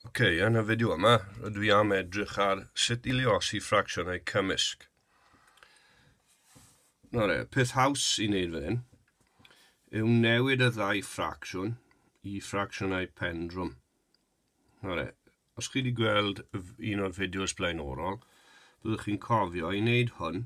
Ok, yn y fideo yma, rydw i am edrych ar sut i liosi ffracsiynau cymysg. Na re, peth haws i wneud fan hyn yw newid y ddau ffracsiwn i ffracsiynau pendrwm. Na re, os chi wedi gweld un o'r fideos blaenorol, byddwch chi'n cofio i wneud hwn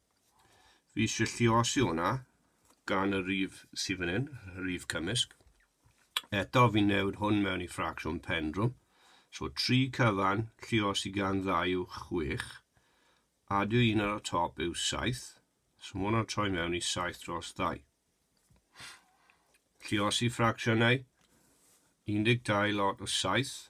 Fi eisiau lliosi hwnna gan y rif sydd fan hyn, y rif cymysg. Eto fi'n newid hwn mewn i ffracsiwn pendrwm. So 3 cyfan, lliosi gan ddau yw 6. Adio un ar y top yw 7. So mae hwnna'n troi mewn i 7 dros 2. Lliosi ffracsiynau 12 lot o 7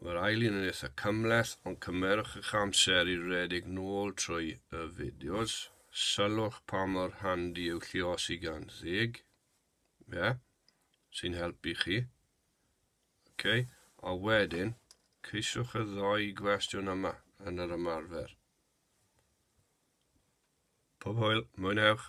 Mae'r ail un yn eitha cymleth, ond cymerwch eich amser i redeg nôl trwy y fideos. Sylwch pa mor handi yw lliosi gan ddeg. Ie, sy'n helpu chi. Ok, a wedyn, ceisiwch y ddoi gwestiwn yma yn yr ymarfer. Pob hwyl, mwynhewch!